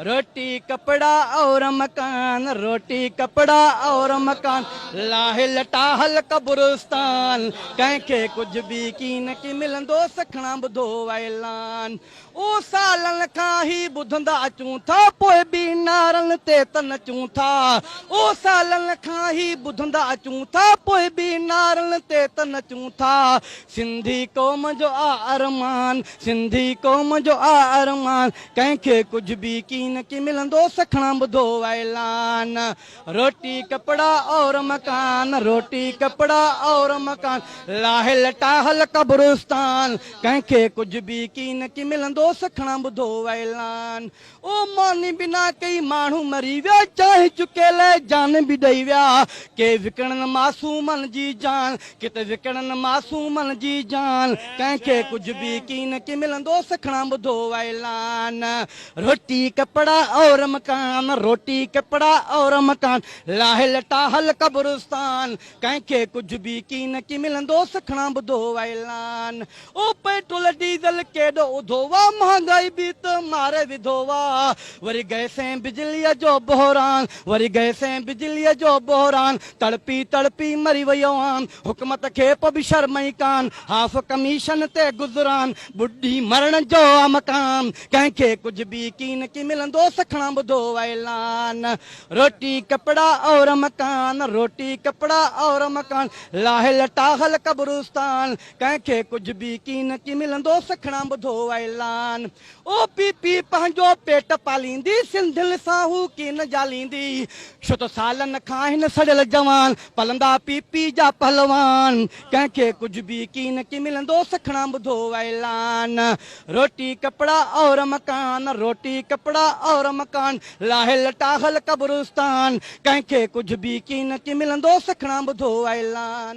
روٽي ڪپڙا اور مڪان روٽي ڪپڙا اور مڪان لاهي لٽا هل قبرستان ڪنهن کي ڪجهه به ڪي نه ڪي ملندو سکڻا ٻڌو اعلان او سالن کان هي ٻڌندا اچون ٿا پوء به نعرن تي ته نچون ٿا او سالن کان هي ٻڌندا اچون ٿا پوء به نعرن تي ته نچون ٿا سنڌي قوم جو آ ارمان، سنڌي قوم جو آ ارمان، ڪنهن کي ڪجهه به ڪين ڪي ملندو، سکڻان ٻڌو اعلان. روٽي ڪپڙا اور مڪان، روٽي ڪپڙا اور مڪان، لاهل ٽاهل قبرستان، ڪنهن کي ڪجهه به ڪين ڪي ملندو، سکڻان ٻڌو اعلان. او ماني بنا ڪئي ماڻهو مري ويا چانهه چڪي لئه جان به ڏئي ويا ڪي وڪڻن معصومن جي جان ڪت وڪڻن معصومن جي جان ڪنهن کي ڪجهه به ڪين ڪي ملندو سکڻان ٻڌو اعلان روٽي ڪپڙا اور مڪان روٽي ڪپڙا اور مڪان لاهي لٽا هل قبرستان ڪنهن کي ڪجهه به ڪين ڪي ملندو سکڻان ٻڌو اعلان او پيٽرول ڊيزل ڪيڏو اڌو وا مھانگائي به ته ماري وڌو وا وري گئس ۽ بجليء جو بحران وري گئس ۽ بجليء جو بحران تڙپي تڙپي مري ويو عام حڪمت کي پو به شرم ئي ڪان ھاف ڪميشن تي گذران ٻڏي مرڻ جو آ مقام ڪنھن کي ڪجھ به يقين ڪي ملندو سکڻان ٻڌو اعلان روٽي ڪپڙا اور مڪان روٽي ڪپڙا اور مڪان لاھي لٽا ھل قبرستان ڪنهن کي ڪجهه به ڪين ڪي ملندو سکڻا ٻڌو اعلان او پي پي پنهنجو پيٽ پاليندي سنڌين سان هو ڪين جاليندي ڇو ته سالن کان آهن سڙيل جوان پلندا پي پي جا پهلوان ڪنهن کي ڪجهه به ڪين ڪي ملندو سکڻا ٻڌو اعلان روٽي ڪپڙا اور مڪان روٽي ڪپڙا اور مڪان لاهي لٽاهل قبرستان ڪنهن کي ڪجهه به ڪين ڪي ملندو سکڻا ٻڌو اعلان.